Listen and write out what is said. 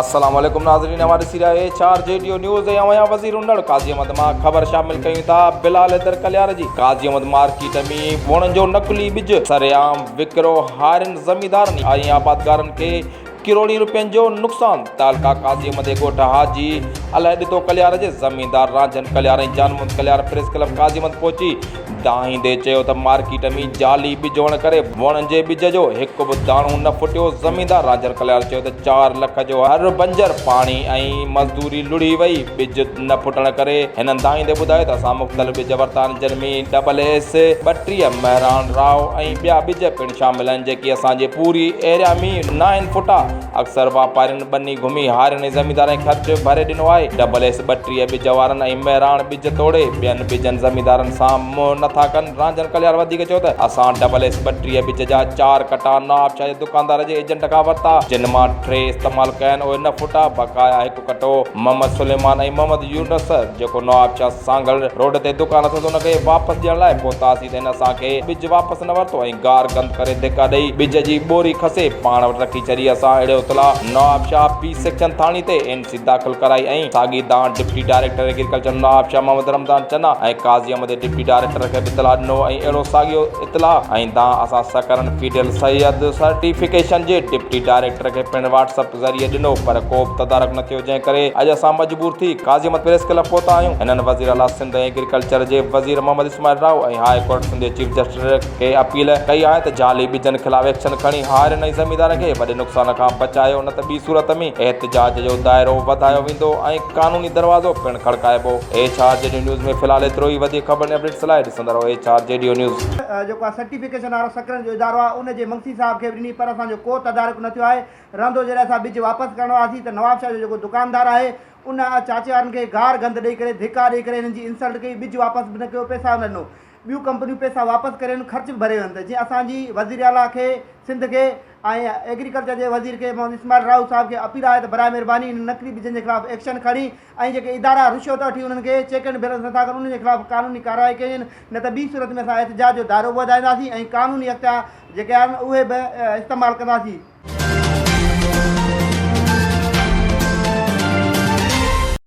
السلام عليڪم ناظرين اوهان ڏسي رهيا اي چار جي ڊيو نيوز ۽ اوهان وزير انڙ قاضي احمد مان خبر شامل ڪيون ٿا بلال حيدر ڪليار جي قاضي احمد مارڪيٽ ۾ وڻ جو نقلي ٻج سرعام وڪرو هارين زميندارن ۽ آبادگارن کي ڪروڙين روپين جو نقصان تعلقه قاضي احمد جي ڳوٺ حاجي الهه ڏتو ڪليار جي زميندار رانجهن ڪليار ۽ جانمحمد ڪليار پريس ڪلب قاضي احمد پهچي دانهيندي چيو ته مارڪيٽ ۾ جعلي ٻج هئڻ ڪري وڻ جي ٻج جو هڪ به داڻو نه ڦٽيو، زميندار راجر ڪليار چيو ته چار لک جو هر بنجر پاڻي ۽ مزدوري لڙهي وئي، ٻج نه ڦٽڻ ڪري هنن دانهيندي ٻڌايو ته اسان مختلف ٻج ورتا آهن جن ۾ ڊبل ايس، ٻٽيهه، مهراڻ راء ۽ ٻيا ٻج پڻ شامل آهن جيڪي اسان جي پوري ايريا ۾ ناهن ڦٽا. اڪثر واپارين ٻني گهمي هارين ۽ زميندارن کي خرچ ڀري ڏنو آهي. ڊبل ايس ٻٽيهه ٻج وارن ۽ مهراڻ ٻج توڙي ٻين ٻجن زميندارن سان منهن نه ٿا ڪن. رانجهن ڪليار وڌيڪ چيو ته اسان ڊبل ايس ٻٽيهه ٻج جا چار ڪٽا نوابشاهه جي دڪاندار جي ايجنٽ کان ورتا جن مان ٽي استعمال ڪيا آهن اهي نه ڦٽا بقايا هڪ ڪٽو، محمد سليمان ۽ محمد يونس جيڪو نوابشاهه سانگهڙ روڊ تي دڪان اٿس ان کي واپس ڏيڻ لاء پهتاسين ته هن اسان کي ٻج واپس نه ورتو ۽ گار گند ڪري ڌڪا ڏئي ٻج جي ٻوري کسي پاڻ وٽ رکي ڇڏي اسان اهڙي اطلاع نوابشاهه بي سيڪشن ٿاڻي تي اين سي داخل ڪرائي ۽ ساڳي دانهن deputy director agriculture Nawabshah Muhammad Ramzan Chana ۽ Qazi Ahmed deputy director کي به اطلاع ڏنو ۽ اهڙو ساڳيو اطلاع ۽ دانهن اسان سڪرنڊ فيڊل سيد سرٽيفڪيشن جي ڊپٽي ڊائريڪٽر کي پڻ واٽس اپ ذريعي ڏنو پر ڪوبه تدارڪ نه ٿيو جنهن ڪري اڄ اسان مجبور ٿي قاضي احمد پريس ڪلب پهتا آهيون هنن وزير اعليٰ سنڌ ۽ ايگريڪلچر جي وزير محمد اسماعيل راهو ۽ هاء ڪورٽ سنڌ جي چيف جسٽس کي اپيل ڪئي آهي ته جعلي ٻجن خلاف ايڪشن کڻي هارين ۽ زميندارن کي وڏي نقصان کان بچايو نه ته ٻي صورت ۾ احتجاج جو دائرو وڌايو ويندو ۽ قانوني دروازو پڻ کڙڪائبو ايڇ آر جي ڊيو نيوز ۾ في الحال ايترو ئي وڌيڪ خبرن ۽ اپڊيٽس لاء ڏسندا رهو ايڇ آر جي ڊيو نيوز. جيڪو آ سرٽيفڪيشن وارو سڪرن جو ادارو آ ان جي منگسي صاحب کي به ڏني پر اسان جو ڪو تدارڪ نه ٿيو آهي رهندو جڏهن اسان ٻج واپس ڪرڻ آياسين ته نواب شاهه جو جيڪو دڪاندار آهي ان چاچي وارن کي گار گند ڏئي ڪري ڌڪا ڏئي ڪري هنن جي انسلٽ ڪئي ٻج واپس به نه ڪيو پئسا به نه ڏنو ٻيون ڪمپنيون پئسا واپس ڪري ويون خرچ به ڀري ويون ته جيئن اسان جي وزير اعليٰ کي سنڌ کي ۽ ايگريڪلچر جي وزير کي محمد اسماعيل راهو صاحب کي اپيل آهي ته برائي مهرباني هنن نقلي ٻجن جي خلاف ايڪشن کڻي ۽ جيڪي ادارا رشوت وٺي انهن کي چيڪ اينڊ بيلنس نٿا ڪن انهن جي خلاف قانوني ڪارروائي ڪئي وڃن نه ته ٻي صورت ۾ اسان احتجاج جو دائرو به وڌائينداسين ۽ قانوني اختيار جيڪي آهن اهي به استعمال ڪنداسين.